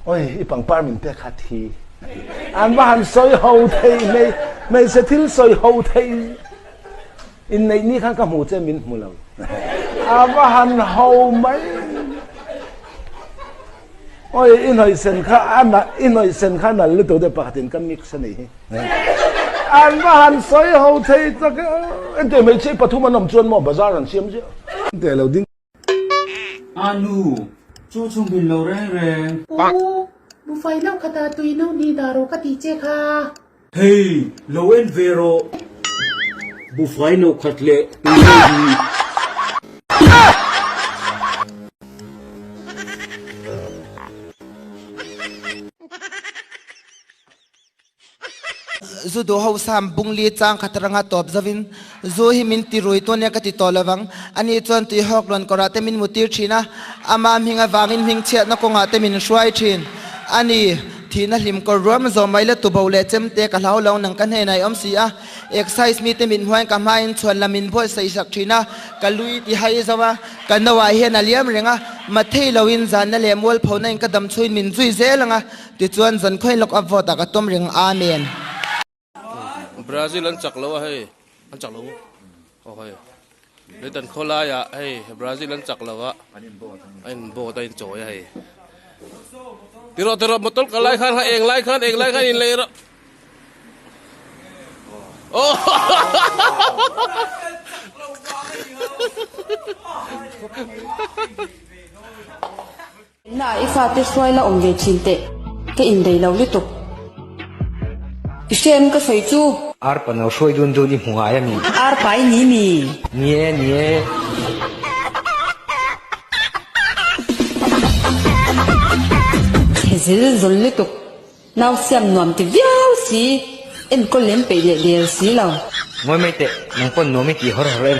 Oi, i pangpar min pek khat hi. An va han sawi ho theih mai, hmeichhe thil sawi ho theih in neih ni khan ka hmu che min hmu lo. A va han ho mai. Oi, i hnawi sen kha ana, i hnawi sen kha nal lutuk deuh pakhatin ka mix a nih hi. An va han sawi ho theih tak e. Engte hmeichhe pathum an awm chuan maw bazar han siam ziah? Engte lo ding. Aa nu, chu chung bin lo reng reng. U, bu fai lo kha ta tui no ni dah rawh ka ti che kha. Hei, lo en ve rawh. Bu fai lo khat leh tui no ni. Zu duh hausa'n bung li chang khat ranga tawp zovin, Zu hi min ti rui tu ania ka ti tawh lo vang. Ani chuan tui hawk luan kawrah te min mu tir thin a, ama hming avangin hming chhiatna kawngah te min hruai thin. Ani, thihna hlim kawr ruam zawh mai la tuboh leh chem te ka hlau lo, nang ka hnenah i awm si a, exercise mite mit hmuain ka hmain chhuan la min bawlh saih hrak thin a, ka lui ti hai zo a, ka no ah hian a liam reng a, mathei loin zanna leh mualphona in ka damchhuin min zui zel ang a, Tichuan John Khawilawk a vote a ka tum ring amen. Brazil an chak lo a hei an chak lo aw hei lei tan khaw lai ah hei Brazil an chak lo a a in vote a in chawi a hei ti rawh ti rawh motor kal lai khan eng lai khan eng lai khan in lei rawh aww Innaah i fate hruai la awm ve thin teh, ka inbei lo lutuk. I hriain ka sawi chu. Arpa no hruai dun dun i hmu ngai a mi. Arpa i ni mi. Ni e, ni e. Zil zawl lutuk. Nau siam nuam ti viau si. Enkawl lem peih leh der si lo. Ngawi mai teh, nang pawn nuam i ti hawr hawr em.